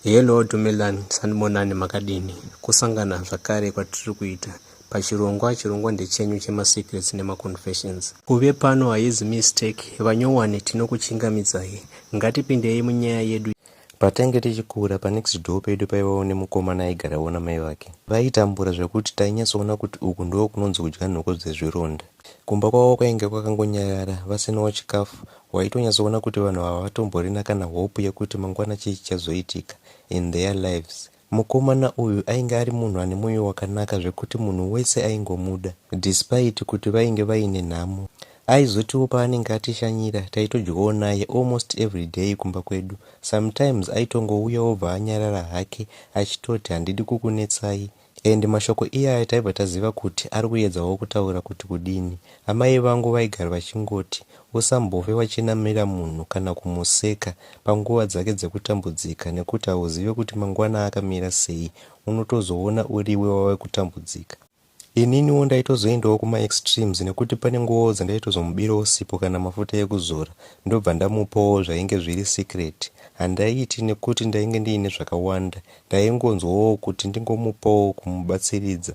Hello Dumelan Sanibonani makadini kusangana zvakare kwatiri kuita pachirongwa chirongwa ndechenyu chemasecrets nemaconfessions kuve pano haizi mistake vanyowani tinokuchingamidzai ngatipindei munyaya yedu Patange tichikura panext door pedu paivawo nemukomana aigarawo namai vake. Vaitambura zvekuti tainyatsoona kuti uku ndoo kunonzi kudya nhoko dzezvironda. Kumba kwavo kwainge kwakangonyarara vasinawo chikafu Waitonyatsoona kuti vanhu ava hawatomborina kana hope yekuti mangwana chii chichazoitika in their lives. Mukomana uyu ainge ari munhu ane moyo wakanaka zvekuti munhu wese aingomuda despite kuti vainge vaine nhamo. Aizotiwo paanenge atishanyira taitodyawo naye almost everyday kumba kwedu. Sometimes aitongouya obva anyarara hake achitoti handidi kukunetsai And mashoko iyaya taibva taziva kuti ari kuedzawo kutaura kuti kudini. Amai vangu vaigara vachingoti usambove wachinamira munhu kana kumuseka panguva dzake dzekutambudzika nekuti hauzive kuti mangwana akamira sei, unotozoona uriwe wave kutambudzika. Ininiwo ndaitozoendawo kuma extremes nekuti pane nguvawo dzandaitozomubirawo sipo kana mafuta ekuzora ndobva ndamupawo zvainge zviri secret. Handaiiti nekuti ndainge ndiine zvakawanda ndaingonzwawo kuti ndingomupawo kumubatsiridza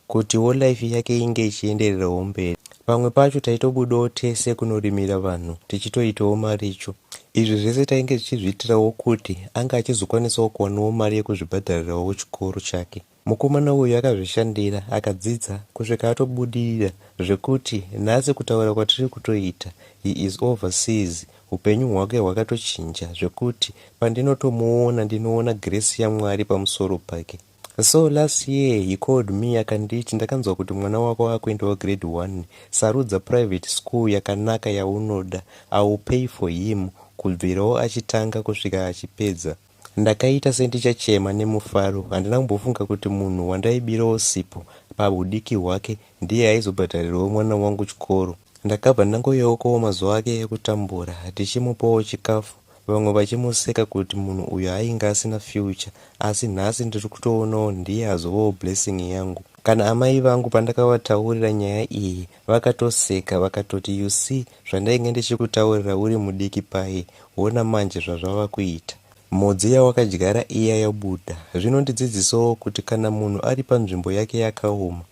kutiwo life yake inge ichiendererawo mberi pamwe pacho taitobudawo tese kunorimira vanhu tichitoitawo maricho izvi zvese tainge tichizviitirawo kuti ange achizokwanisawo kuwanawo mari yekuzvibhadharirawo chikoro chake mukomana uyu akazvishandira akadzidza kusvika atobudirira zvekuti nhasi kutaura kwatiri kutoita he is overseas Hupenyu hwake hwakatochinja zvekuti pandinotomuona ndinoona grace yaMwari pamusoro pake. So last year he called me akanditi ndakanzwa kuti mwana wako akuendawo grade 1 sarudza private school yakanaka yaunoda I will pay for him kubvirawo achitanga kusvika achipedza. Ndakaita sendichachema nemufaro. Handina kumbofunga kuti munhu wandaibirawo sipo pahudiki hwake ndiye aizobhadharirawo mwana wangu chikoro. Ndakabva ndangoyeukawo mazuva ake ekutambura ndichimupawo chikafu vamwe vachimuseka kuti munhu uyu ainge asina future asi nhasi ndiri kutoonawo ndiye azovawo blessing yangu. Kana amai vangu pandakavataurira nyaya iyi Vakatoseka vakatoti you see zvandainge ndichikutaurira uri mudiki paye hona manje zvazvava kuita. Mhodzi yawakadyara iya yabuda. Zvinondidzidzisawo kuti kana munhu ari panzvimbo yake yakaoma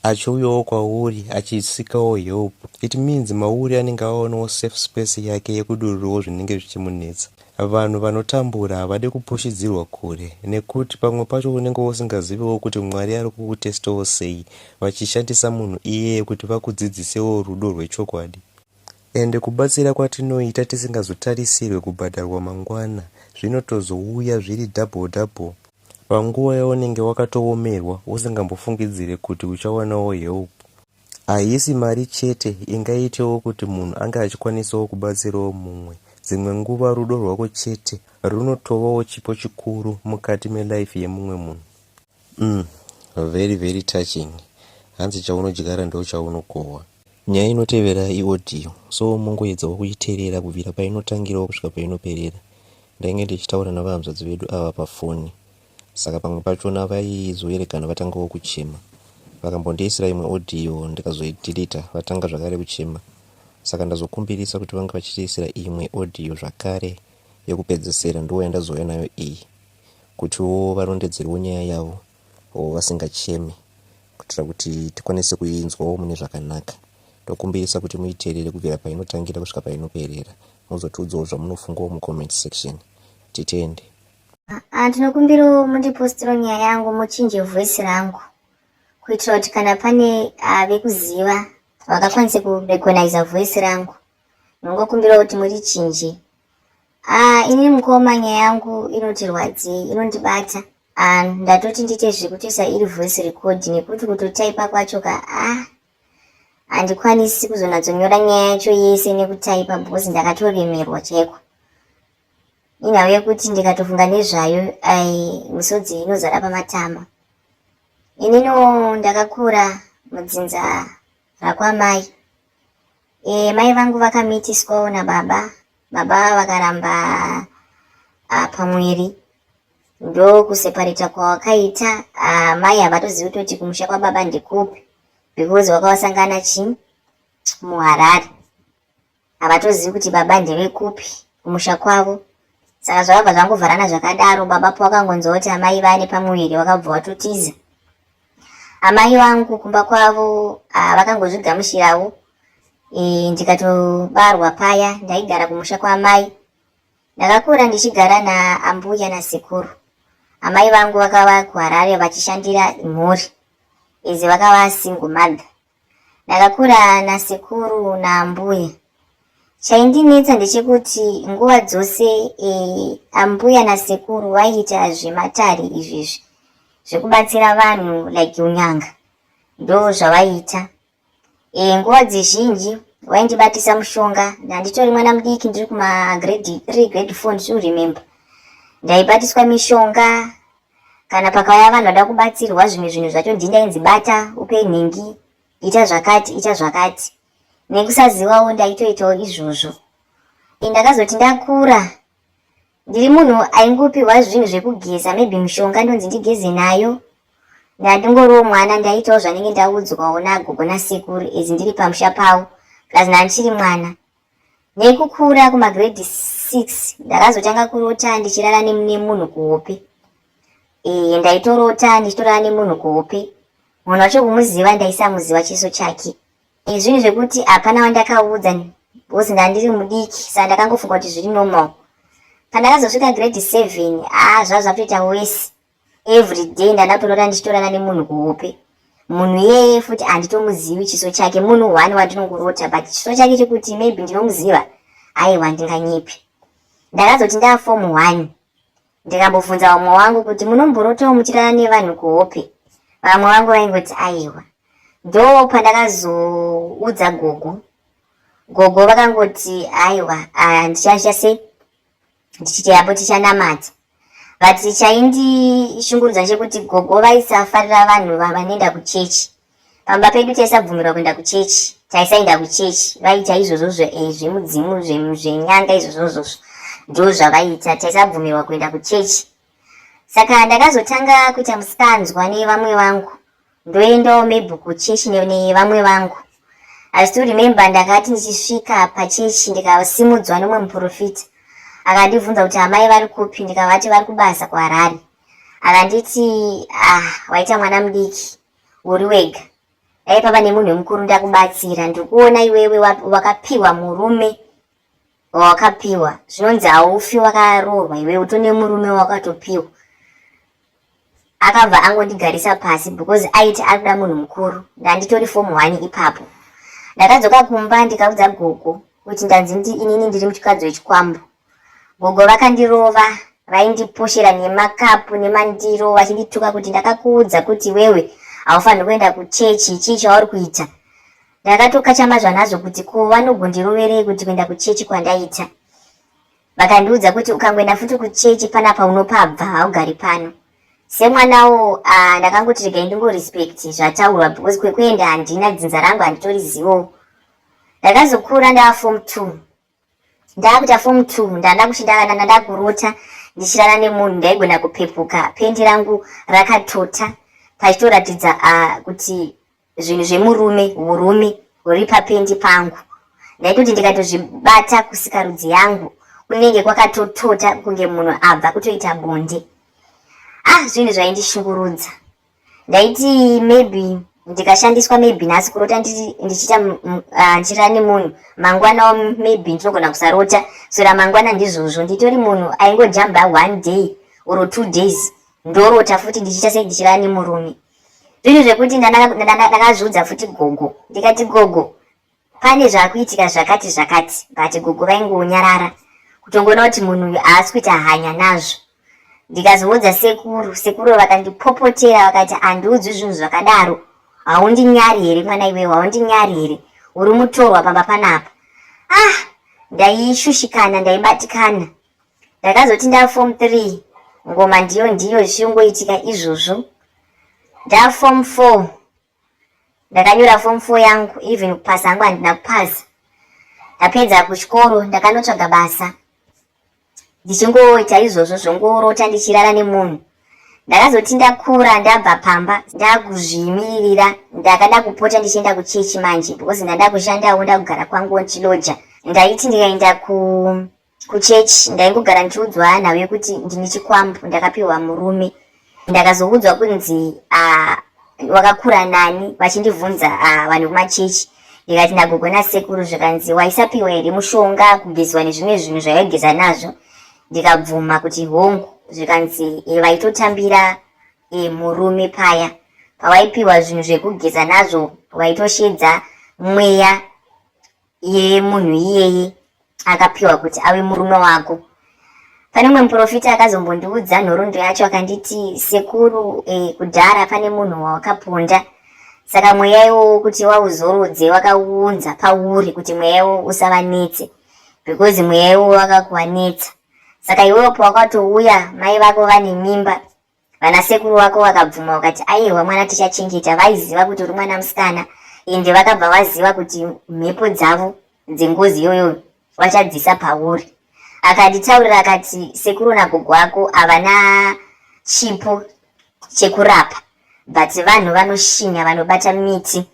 achiuyawo kwauri achisikawo help it means mauri anenge aonawo safe space yake yekudururawo zvinenge zvichimunetsa. Vanhu vanotambura havade kupushidzirwa kure nekut pamwe pacho unenge usingazivewo kut Mwari ari kukutestawo sei vachishandisa munhu iyeye kut vakudzidzisewo rudo rwechokwadi. Ende kubatsira kwatinoita tisingazotarisirwe kubhadharwa mangwana zvinotozouya zviri double double. Panguva yaunenge wakatoomerwa usingambofungidzire kut uchawanawo help. Haisi mari chete ingaitewo kuti munhu ange achikwanisawo kubatsirawo mumwe. Dzimwe nguva rudo rwako chete runotovawo chipo chikuru mukati melife yemumwe munhu. Umm very very touching hanzi chaunodyara ndochaunokohwa. Nyaya inotevera i audio so mongoedzawo kuiteerera kubvira painotangirawo kusvika painoperera. Ndainge ndichitaura navahanzvadzi vedu ava pafoni Saka pamwe pachona vaizoerekana vatangawo kuchema. Vakambondiisira imwe audio ndikazoideleter vatanga zvakare kuchema. Saka ndazokumbirisa kuti vange vachitiisira imwe audio zvakare yekupedzesera ndoyandazouya nayo iyi kutiwo varondedzerewo nyaya yavo or vasingacheme kuitira kuti tikwanise kuinzwawo mune zvakanaka. Ndokumbirisa kuti muiteerere kubvira painotangira kusvika painoperera mozotiudzawo zvamunofungawo mucomment section. Titende. Ah, ndinokumbirawo mundipostiro nyaya yangu muchinje voice rangu kuitira kuti kana pane ah, vekuziva vakakwanisa kurecogniza voice rangu ndinongokumbirawo kuti murichinje ah, ini mukoma nyaya yangu inotirwadzei inondibata ndatoti ndiite zvekutoisa iri voice record nekuti kutotaipa kwacho ka ah handikwanisi kuzonatsonyora nyaya yacho yese nekutaipa bhozi ndakatoremerwa chaiko Inhau yekuti ndikatofunga nezvayo ai misodzi inozara pamatama. Inino ndakakura mudzinza rakwamai. E, mai vangu vakamitiswawo nababa. Baba vakaramba ah, pamwiri ndokuseparita kwawakaita ah, mai havatozivi kutoti kumusha kwababa ndikupi because wakawasangana chii muharare Havatozivi kuti baba ndevekupi kumusha kwavo. Saka zvakabva zvangovharana zvakadaro baba pawakangonzwa kuti amai vane pamuviri wakabva watotiza. Amai vangu kumba kwavo ah, vakangozvigamushirawo e, ndikatobarwa paya ndaigara kumusha kwaamai. Ndakakura ndichigara naambuya nasekuru. Amai vangu vakava kuHarare vachishandira mhuri izi vakava single mother. Ndakakura nasekuru naambuya. Chaindinetsa ndechekuti nguva dzose e, ambuya nasekuru vaiita zvematare izvezvi zvekubatsira vanhu like unyanga ndo zvavaiita. E, nguva dzizhinji vaindibatisa mushonga ndanditori mwana mudiki ndiri kumagrade three grade four ndiri kuremember ndaibatiswa mishonga Kana pakauya vanhu vada kubatsirwa zvimwe zvinhu zvacho ndini ndainzi bata, upe nhingi, ita zvakati, ita zvakati. Nekusazivawo ndaitoitawo izvozvo. Ndakazoti ndakura ndiri munhu aingopiwa zvinhu zvekugeza maybe mushonga ndonzi ndigeze nayo ndandingoriwo mwana ndaitawo zvanenge ndaudzwawo nagogo nasekuru izi ndiri pamusha pavo plus ndandichiri mwana Nekukura kumagrade 6 ndakazotanga kurota ndichirara nemunhu kuhope. Ee ndaitorota ndichitorara nemunhu kuhope. Munhu wacho kumuziva ndaisamuziva chiso chake. Ee zvinhu zvekuti hapana wandakaudza because ndandiri mudiki saka ndakangofunga kuti zviri normal. Pandakazosvika grade 7 aa zvazvakutoita worse everyday ndanatorora ndichitorana nemunhu kuhope munhu iyeye futi handitomuzivi chiso chake munhu one wandinongorota but chiso chake chekuti maybe ndinomuziva aiwa ndinganyepi ndakazoti ndafom one ndikambobvunza vamwe wangu kuti munomborotawo muchirana nevanhu kuhope vamwe vangu vaingoti aiwa ndo pandakazoudza gogo gogo vakangoti aiwa ah, ndichasha se ndichiti yapo tichanamata but chaindishungurudza chekuti gogo vaisafarira vanhu vanoenda kuchechi pamba pedu taisabvumirwa kuenda kuchechi taisaenda kuchechi vaiita izvozvozvo eh, zvemudzimu zvenyanga izvozvozvozvo ndo zvavaiita taisabvumirwa kuenda kuchechi saka ndakazotanga kuita musikanzwa nevamwe vangu ndoendawo maybe kuchechi nevamwe vangu i still remember ndakati ndichisvika pachechi ndikasimudzwa nomwe muprofita akandibvunza kuti amai vari kupi ndikavati vari kubasa kuharare akanditi ah waita mwana mudiki uri wega dai pava nemunhu wemukuru ndakubatsira ndikuona iwewe wakapiwa murume wawakapiwa zvinonzi haufi wakaroorwa iwe utone murume wakatopiwa akabva angondigarisa pasi because aiti ari kuda munhu mukuru ndanditori fomu one ipapo ndakadzoka kumba ndikaudza gogo kuti ndanzi ndi inini ndiri muchikadzo wechikwambo gogo vakandirova vaindiposhera nemakapu nemandiro vachindituka kuti ndakakuudza kuti wewe haufaniri kuenda kuchechi chii chauri kuita Ndakatokachama zvanazvo kuti ko vanogondiroverei kuti kuenda kuchechi kwandaita. Vakandiudza kuti ukangoenda futi kuchechi pana paunopabva haugari pano. Semwanawo uh, ndakangoti regai ndingorespect zvataurwa because kwekuenda handina dzinza rangu handitorizivowo. Ndakazokura ndava form two ndakuita form two ndada kuti ndavana ndada kurota ndichirara nemunhu ndaigona kupepuka pendi rangu rakatota pachitoratidza uh, kuti zvinhu zvemurume urume huri papendi pangu ndaitoti ndikatozvibata kusikarudzi yangu kunenge kwakatotota kunge munhu abva kutoita bonde ah zvinhu zvaindishungurudza ndaiti maybe ndikashandiswa maybe nhasi kurota ndichiita ah, ndichirara nemunhu mangwana maybe ndinogona kusarota so ramangwana ndizvozvo nditori munhu aingojamba one day or two days ndorota futi ndichiita sei ndichirara nemurume zvinhu zvekuti ndakazviudza futi gogo ndikati gogo Pane zvakuitika zvakati zvakati but gogo vaingonyarara kutongoona kuti munhu uyu haasi kuita hanya nazvo. Ndikazoudza sekuru, sekuru vakandipopotera vakati handiudzwi zvinhu zvakadaro. Haundinyari here mwana iwewe, haundinyari here? Uri mutorwa pamba panapa. Ah, ndaishushikana, ndaibatikana. Ndakazoti ndaa form 3 ngoma ndiyo ndiyo zvichingoitika izvozvo. Ndaa form 4 Ndakanyora form 4 yangu even kupasa hangu handina kupasa. Ndapedza kuchikoro ndakanotsvaga basa ndichingoita izvozvo zvongorota ndichirara nemunhu. Ndakazoti ndakura ndabva pamba ndakuzviimiririra ndakada kupota ndichienda kuchechi manje because ndanda kushandawo ndakugara kwangu ndichiloja. Ndaiti ndikaenda ku Kuchechi ndaingogara ndichiudzwa nhau yekuti ndine chikwambo ndakapiwa murume. Ndakazoudzwa kunzi ah, wakakura nani vachindivhunza ah, vanhu vekumachechi ndikati nagogo nasekuru zvikanzi waisapiwa here mushonga kugeziwa nezvimwe zvinhu zvaigeza nazvo ndikabvuma kuti hongu zvikanzi e, vaitotambira e, murume paya pawaipiwa zvinhu zvekugeza nazvo waitoshedza mweya Iyeye munhu iyeye akapiwa kuti ave murume wako. Pane mumwe muprofita akazombondiudza nhoroondo yacho akanditi, Sekuru, eh, kudhara pane munhu wawakaponda. Saka mweya iwowo kuti wauzorodze wakauunza pauri kuti mweya iwowo usavanetse because mweya iwowo wakakuvanetsa. Saka iwewo pawakatouya mai vako vane mimba vana sekuru wako wakabvuma ukati aihwa mwana tichachengeta vaiziva kuti uri mwana musikana ende vakabva vaziva kuti mhepo dzavo dzengozi iyoyo vachadzisa pauri akanditaurira akati sekuru nagogo wako havana chipo chekurapa but vanhu vanoshinya vanobata miti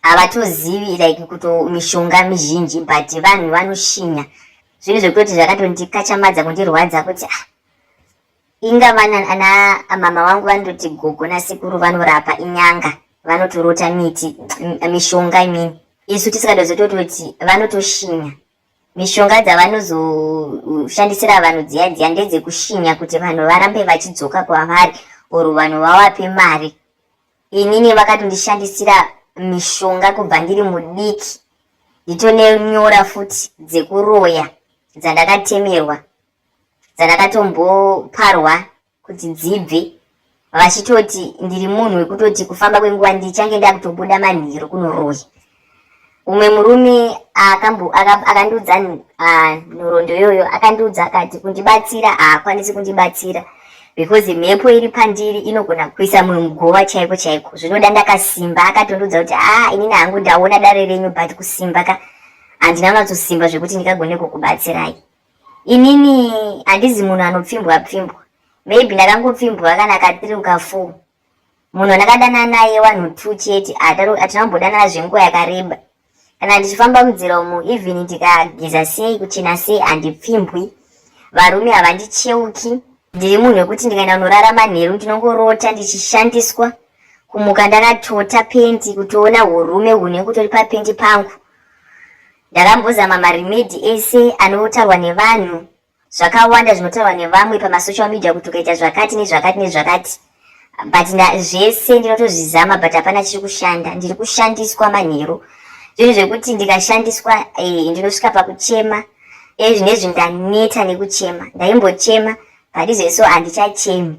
havatozivi like kuto mishonga mizhinji but vanhu vanoshinya zvinhu zvekutoti zvakatondikachamadza kundirwadza kuti ah, inga vana ana mama vangu vanototi gogo nasekuru vanorapa inyanga vanotorota miti mishonga imini isu tisikadozotototi vanotoshinya mishonga dzavanozoshandisira vanhu dziya dziya ndedzekushinya kuti vanhu varambe vachidzoka kwavari or vanhu vawape mari inini vakatondishandisira mishonga kubva ndiri mudiki nditone nyora futi dzekuroya dzandakatemerwa dzandakatomboparwa kuti dzibve vachitoti ndiri munhu wekutoti kufamba kwenguva ndichange ndakutobuda manheru kunoroya umwe murume akandiudza nhoroondo iyoyo akandiudza akati kundibatsira haakwanisi kundibatsira because mhepo iri pandiri inogona kuisa mumwe mugova chaiko chaiko zvinoda ndakasimba akatondiudza kuti aa inini hangu ndaona dare renyu but kusimba ka handina unatsosimba zvekuti ndikagone kukubatsirai inini handizi munhu anopfimbwa pfimbwa maybe ndakangopfimbwa kana katiruka fuu munhu andakadana naye one or two chete hatina kumbodanana zvenguva yakareba kana ndichifamba munzira umu even ndikageza sei kuchena sei handipfimbwi varume havandicheuki ndiri munhu wekuti ndikaenda kunorara manheru ndinongorota ndichishandiswa kumuka ndakatota pendi kutoona urume hune kutori papendi pangu ndakambozama marimedi ese anotaurwa nevanhu zvakawanda zvinotaurwa nevamwe pamasocial media kuti ukaita zvakati nezvakati nezvakati but zvese ndinotozvizama but hapana chiri kushanda ndiri kushandiswa manheru zvinhu zvekuti ndikashandiswa eh, ndinosvika pakuchema e zvinezvi ndaneta nekuchema ndaimbochema but izveso handichachemi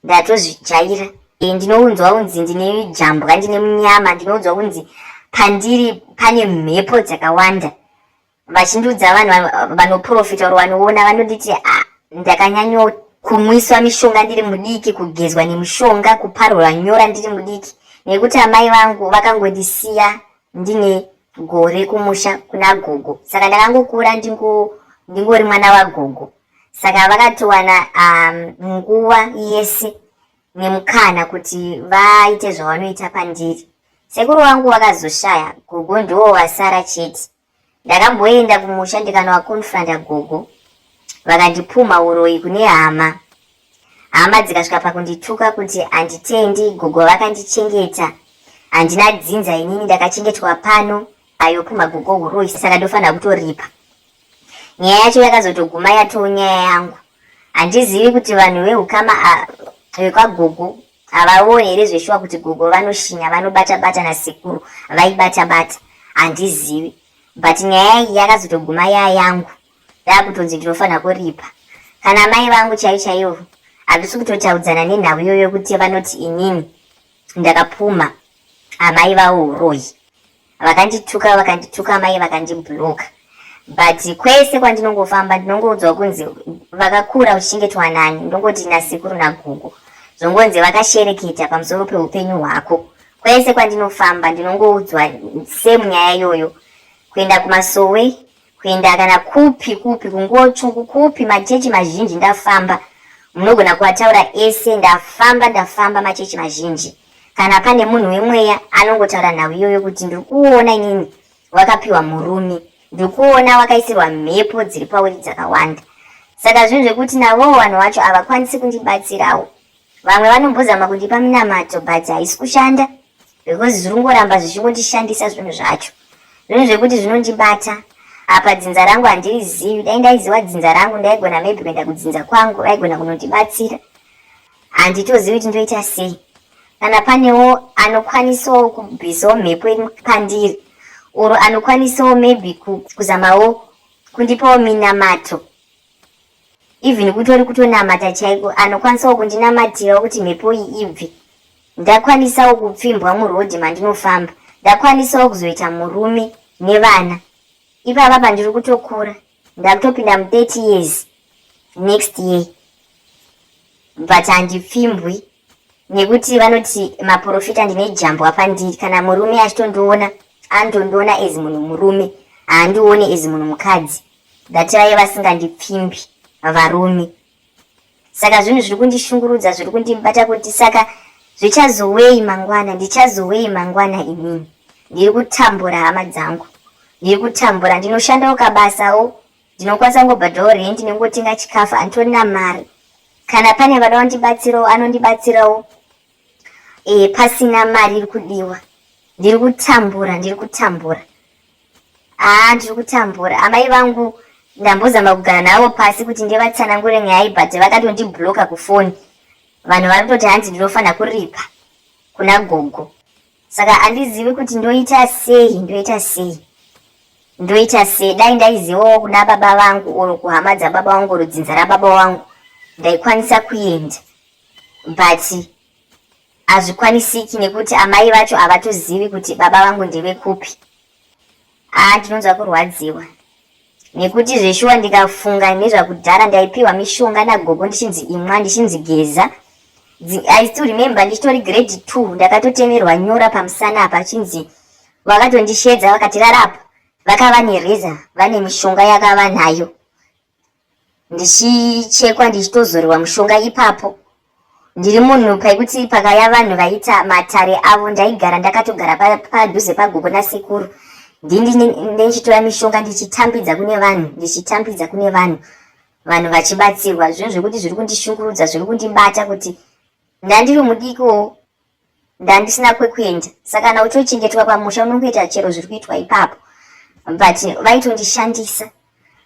ndatozvijaira e, ndinounzwa unzi ndine jambwa ndine munyama ndinounzwa kunzi pandiri pane mhepo dzakawanda vachindiudza vanhu vanoprofita or vanoona vanonditi ah, ndakanyanyo kumwiswa mishonga ndiri mudiki kugezwa nemushonga kuparwa nyora ndiri mudiki nekuti amai vangu vakangondisiya ndine gore kumusha kuna gogo saka ndakangokura ndingori mwana wagogo saka vakatowana um, nguva um, yese nemukana kuti vaite zvavanoita pandiri sekuru wangu vakazoshaya gogo ndiwo vasara chete Ndakamboenda kumusha ndikanovakonfronta gogo vakandipumha uroyi kune hama. Hama dzikasvika pakundituka kuti handitendi gogo vakandichengeta. Handina dzinza inini ndakachengetwa pano ayopumha gogo uroyi saka ndofanira kutoripa. Nyaya yacho yakazotoguma yatoo nyaya yangu. Handizivi kuti vanhu vehukama vekwagogo Havawo here zveshuwa kuti gogo vanoshinya vanobata bata nasekuru vaibata bata handizivi but nyaya iyi yakazotoguma yaya yangu yakutonzi ndinofanira kuripa kana mai vangu chaiyo chaiyo hatisi kutotaudzana nenhau iyoyo kuti vanoti inini ndakapumha amai vawo uroyi vakandituka vakandituka mai vakandibloka but kwese kwandinongofamba ndinongoudzwa kunzi vakakura uchichengetwa nani ndongoti nasikuru nagugu zvongonzi vakashereketa pamusoro peupenyu hwako kwese kwandinofamba ndinongoudzwa same nyaya iyoyo kuenda kumasowe kuenda kana kupi kupi kungochungu kupi machechi mazhinji ndafamba munogona kuataura ese ndafamba ndafamba machechi mazhinji kana pane munhu wemweya anongotaura nhau iyoyo kuti ndiri kuona inini wakapiwa murume ndiri kuona wakaisirwa mhepo dziri pauri dzakawanda saka zvinhu zvekuti navowo vanhu vacho havakwanisi kundibatsirawo Vamwe vanombozama kundipa minamato but haisi kushanda because zviri kungoramba zvichingondishandisa zvinhu zvacho. Zvinhu zvekuti zvinondibata apa dzinza rangu handirizivi. Dai ndaiziva dzinza rangu ndaigona maybe kuenda kudzinza kwangu vaigona kunondibatsira. Handitozivi kuti ndoita sei. Kana panewo anokwanisawo kubvisawo mhepo iri pandiri or anokwanisawo maybe kuzamawo kundipawo minamato. even kutori kutonamata chaiko anokwanisawo kundinamatirawo kuti mhepo iyi ibve ndakwanisawo kupfimbwa murodhi mandinofamba ndakwanisawo kuzoita murume nevana ipapa pandiri kutokura ndakutopinda mu30 years next year but handipfimbwi nekuti vanoti maporofita ndine jambwa pandiri kana murume achitondiona antondiona as munhu murume haandione as munhu mukadzi that vaye vasingandipfimbi varume saka zvinhu zviri kundishungurudza zviri kundibata kuti saka zvichazowei mangwana ndichazowei mangwana inini ndiri kutambura hama dzangu ndiri kutambura ndinoshandawo kabasawo Ndinokwanisa kungobhadhao rent nengotenga chikafu anditorina mari. Kana pane vada kundibatsirawo anondibatsirawo e, pasina mari iri kudiwa. Ndiri kutambura, ndiri kutambura. Ah, ndiri kutambura. Amai vangu ndambozama kugara navo pasi kuti ndivatsanangure nyaya but vakatondibloka kufoni vanhu vari kutoti hanzi ndinofanira kuripa kuna gogo saka handizivi kuti ndoita sei ndoita sei ndoita sei dai ndaizivawo kuna baba vangu or kuhama dzababa vangu or dzinza rababa vangu ndaikwanisa kuenda but hazvikwanisiki nekuti amai vacho havatozivi kuti baba vangu ndevekupi haa ndinonzwa kurwadziwa nekuti zveshuwa ndikafunga nezvakudhara ndaipiwa mishonga nagogo ndichinzi imwa ndichinzi geza i still remember ndichitori grade two ndakatotemerwa nyora pamusana apa achinzi vakatondishedza vakatirarapo vakava nereza vane mishonga yakava nayo ndichichekwa ndichitozorerwa mushonga ipapo ndiri munhu paikuti pakaya vanhu vaita matare avo ndaigara ndakatogara padhuze pagogo nasekuru ndindichitora mishonga ndichitambidza kune vanhu ndichitambidza kune vanhu vanhu vachibatsirwa zvinhu zvekuti zviri kundishungurudza zviri kundibata kuti ndandiri mudikoo ndandisina kwekuenda saka kana uchochengetwa pamusha unongoita chero zviri kuitwa ipapo but vaitondishandisa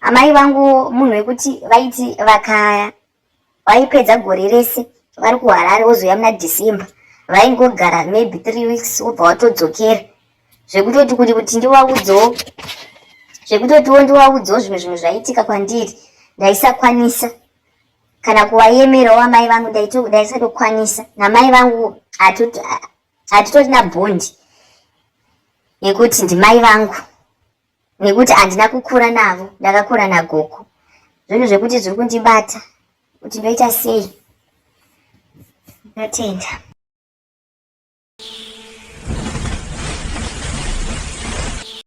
amai vangu munhu wekuti vaiti vakaya vaipedza gore rese vari kuharare wozouya muna december vaingogara maybe three weeks wobva watodzokera zvekutoti kuti kuti ndiwaudzowo zvekutotiwo ndiwaudzowo zvimwe zvinhu zvaiitika kwandiri ndaisakwanisa kana kuwayemerawo amai vangu ndaisatokwanisa namai vangu hatitorina bhondi yekuti ndimai vangu nekuti handina kukura navo ndakakura nagogo zvinhu zvekuti zviri kundibata kuti ndoita sei ndotenda